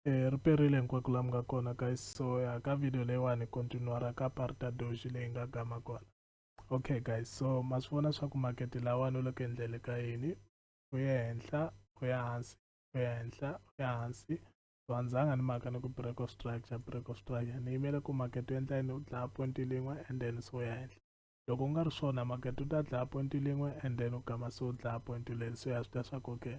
eh, ri perile hinkwako laha mi nga kona guys so ya ka video leyiwani continuara ka parta doji leyi nga gama kona okay guys so ma swi vona swa ku makete lawani u le ku endlele ka yini u ya henhla u ya hansi u ya henhla u ya hansi so a ndzanga ni maka ni ku break of structure break of structure ni yimele ku makete u endla yini u dlaya point lin'we and then so u ya henhla loko u nga ri swona makete u ta dlaya point lin'we and then u gama so u dlaya point leri so ya swi ta swa ku okay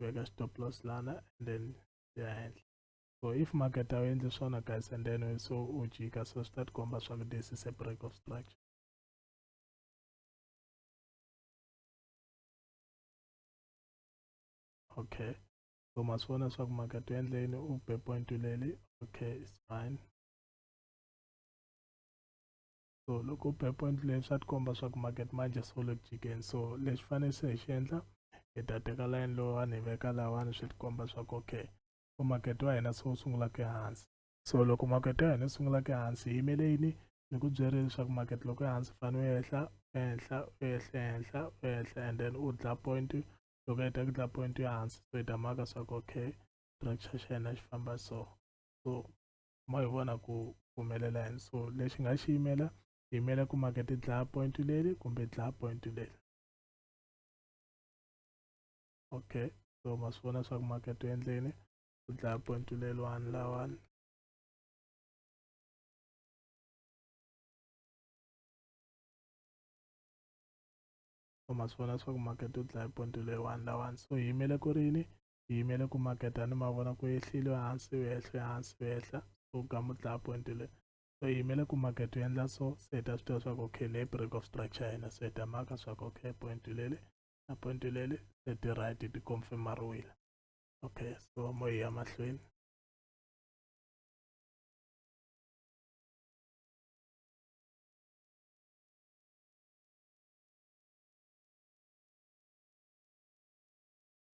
veka stop loss lana and then ya henhla so if market a wu endli swona guys and then so u jika so swi ta ti komba swa ku this is a break of structure okay so ma swi vona swa ku market u endle yini u be point leli okay it's fine so loko u point leyi swa tikomba swa ku market manje so le ku jikeni so lexi fanele se hi xi endla hi ta teka line lowani hi veka lawani swi tikomba swa ku okay ku market wa hina se wu sungula ku ehansi so loko market ya hina yi sungula ku ehansi hi yimele yini ni ku byerile leswaku market loko ehansi fane u ehla u ehla u ehla ehla u ehla and then u dla point loko heta ku dla point ya hansi so hi ta maka swa ku okay structure xa hina xi famba so so ma hi vona ku humelela yini so lexi nga xi yimela hi yimela ku makete dlaya point leri kumbe dlaya point leri okay so ma swi vona swa ku makete u endleni ku dlaya point leriwani lawani so ma swi vona swa ku makete u dlaya point leriwani lawani so hi yimele ku rini hi yimele ku maketa ni mavona ku ehlile hansi u ehle hansi u ehla so ka mutlaha point le so hi yimele ku maketa u endla so se hi ta swi tiva swa ku okay ne break of structure ya hina so hi ta maka swa ku okay point lele na point lele se ti right ti confirmariwile okay so mo hi ya mahlweni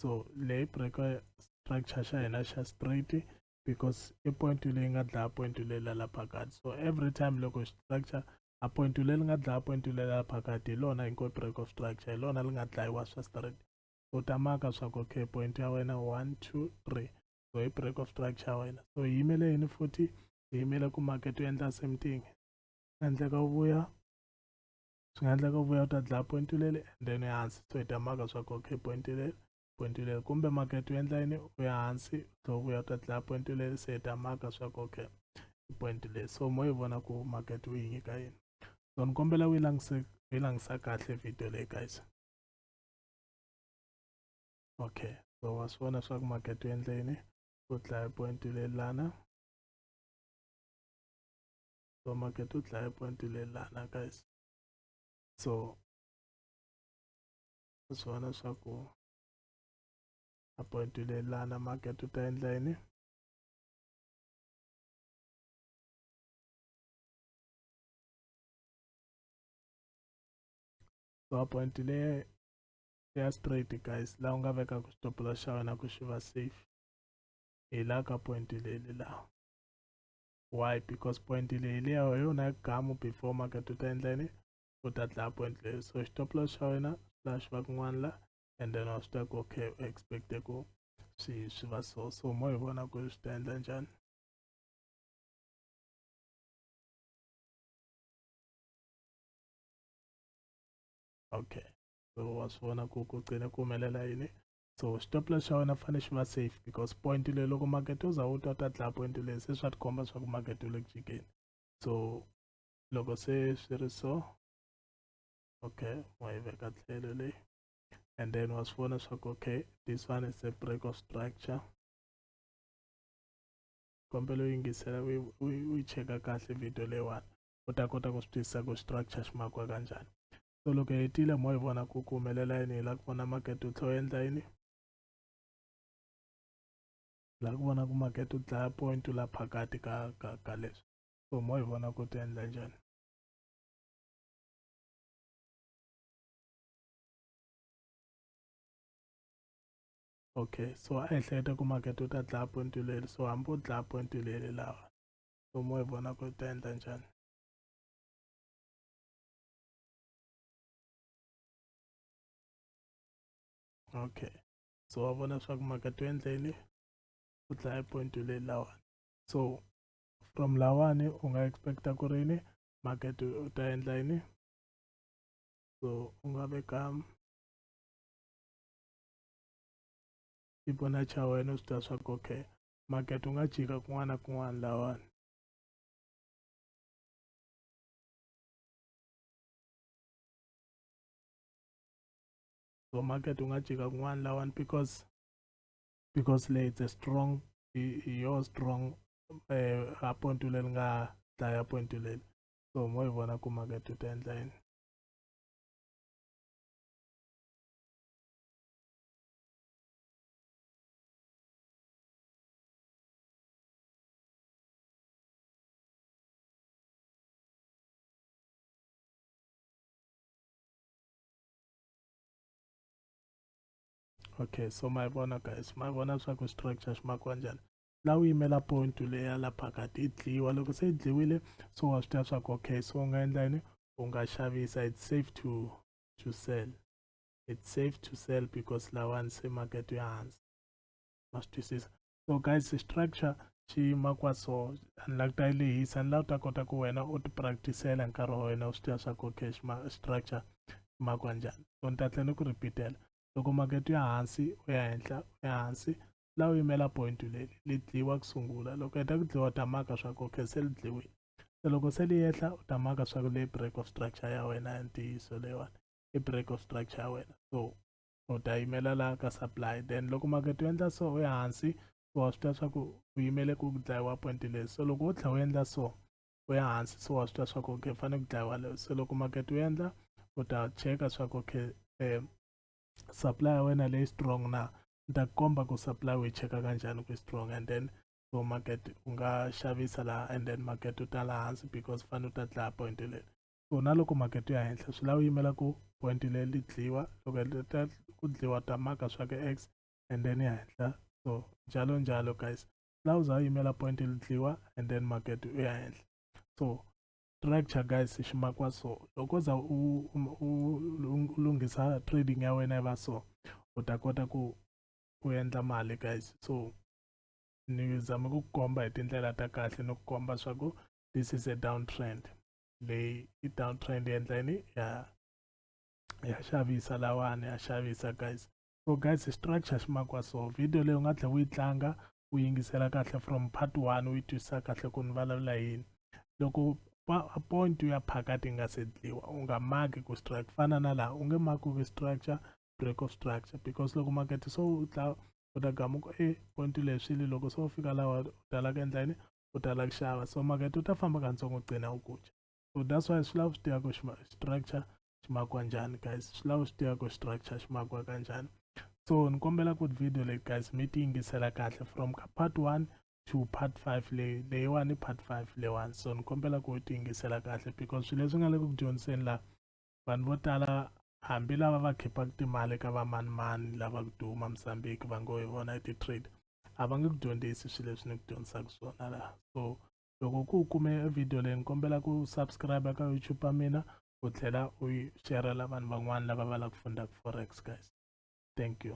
so leyi breka structure xa hina xa straight because i point leyi nga dlaya point leyi la la phakati so every time loko structure a point leyi nga dlaya point leyi la phakati hi lona inko break of structure hi lona li nga dlayiwa swa straight so ta maka swa ku okay point ya wena one two three so hi break of structure ya wena so hi yimele yini futhi hi yimele ku market u endla same thing endleka u vuya swi nga endleka u vuya u ta dlaya point u lele and then u ya hansi so hi ta maka swa ku okay point u lele point u lele kumbe market u endla yini u ya hansi u tlhela u vuya u ta dlaya point u lele se hi ta maka swa ku okay point le so mo yi vona ku market u yi nyika yini so ni kombela u yi langise u yi langisa kahle video leyi guys okay so wa swi vona swa ku market u endle yini u dlaya point u lelana so market u dlaya point leyi lana guys so swi vona swa ku a point leyi lana market u ta endla yini so a point leyi ya straight guys laha u nga vekaka stop loss xa wena ku xi va safe hi la ka point leli laha why because point leyi hi leyo hi yona gamu before market u ta endla yini u ta dlaya point leyo so stop loss xa wena laha xi va kun'wana la and then wa swi tiva ku okay u expecte ku swi swi va so so mo hi vona ku swi ta endla njhani okay so wa swi vona ku ku qine ku humelela yini so xitopla xa wena fanele xi va safe because point leyi loko makete u za u twa ta dlaya point leyi se swa tikomba swa ku makete u le ku jikeni so loko se swi ri so okay wa yi veka tlhelo leyi and then wa swi vona swa ku okay this one is a break of structure kombela u yingisela u yi cheka kahle video leyiwani u ta kota ku swi twisisa ku structure xi makiwa kanjhani so loko hi tile mo hi vona ku ku humelela yini hi lava ku vona makete wu tlhe u endla yini hi lava ku vona ku makete wu dlaya point wu la phakati ka ka ka leswi so mo hi vona ku ti endla njhani okay so a hi hleketa ku makete wu ta dlaya point wu leli so hambi u dlaya point wu leli lawa so mo hi vona ku ta endla njhani okay so wa vona swa ku mhaka to endleni ku dlaya point le lawani so from lawani u nga expecta ku ri yini market u ta endla yini so u nga veka xipona xa wena u swi ta swa ku okay market u nga jika kun'wana na kun'wana lawani so market ungajika kun'wana lawani because because le it's a strong yo strong um eh, apontu leri nga dlaya pontu leri so mo yi vona ku market u ta endla yini okay so my bona guys my bona swa ku structure xi makiwa njhani la u yimela point leya la phakati yi dliwa loko se yi dliwile so wa swi tiva swa ku okay so u nga endla yini u nga xavisa it's safe to to sell it's safe to sell because lawani se market ya hansi ma swi twisisa so guys structure xi yima kwa so ni la ku ta yi lehisa ni la u ta kota ku wena u ti practicela hi nkarhi wa wena u swi tiva swa ku okay xima structure ma kwa njhani so ni ta tlhe ni ku repeatela loko makete ya hansi u ya henhla u ya hansi la u yimela point leli li dliwa ku sungula loko heta ku dliwa u ta maka swa ku okay se li dliwile se loko se li yehla u ta maka swa ku leyi break of structure ya wena ya ntiyiso leyiwani i break of structure ya wena so u ta yimela la ka supply then loko makete u endla so u ya hansi so wa swi tiva swa ku u yimele ku dlayiwa point leyi so loko u tlhela u endla so u ya hansi so wa swi tiva swa ku okay fanele ku dlayiwa leyo so loko makete u endla u ta cheka swa ku okay um supply ya wena leyi strong na ni ta komba ku supply u yi cheka kanjhani ku strong and then so market u nga xavisa laha and then market u ta la hansi because fane u ta dlaya point leyi so na loko makete ya henhla swi lava yimela ku point leyi li dliwa loko ta ku dliwa ta maka swa ka x and then ya henhla so njalo njalo guys swi lava uza yimela point li dliwa and then makete u ya henhla so structure guys xi makiwa so loko za u lunghisa trading ya wena yi va so u ta kota ku u endla mali guys so ni zame ku komba hi tindlela ta kahle ni ku komba swa ku this is a down trend leyi i downtrend yi endla yini ya ya xavisa lawani ya xavisa guys so guys structure xi makiwa so video leyi u nga tlhela u yi tlanga u yingisela kahle from part one u yi twisisa kahle ku ni vulavula yini loko point u ya phakati yi nga se dliwa u nga maki ku structure fana na laha u nge maki ku structure break of structure because loko makete so u tla u ta gamuka e point leswili loko se u fika lawa u talaka endla yini u ta lava ku xava so makete u ta famba katsongo u qina u kucha so that's why swi lava swi tiva ku structure xi makiwa njhani guys swi lava swi tiva ku structure xi makiwa kanjhani so ni kombela ku video leyi guys mi ti yingisela kahle from ka part one to part five leyi leyiwani part five leyiwani so ni kombela ku ti yingisela kahle because swilo leswi nga le ku dyondziseni laha vanhu vo tala hambi lava va khipaka timali ka vamanimani lava ku duma mozambique va ngo hi vona i ti-trade a va nge ku dyondzisi swilo leswi ni ku dyondzisaka swona laha so loko ku u kume video leyi ni kombela ku subscribe ka youtube ya mina u tlhela u yi sherela vanhu van'wana lava va lava ku fundaka forex guys thank you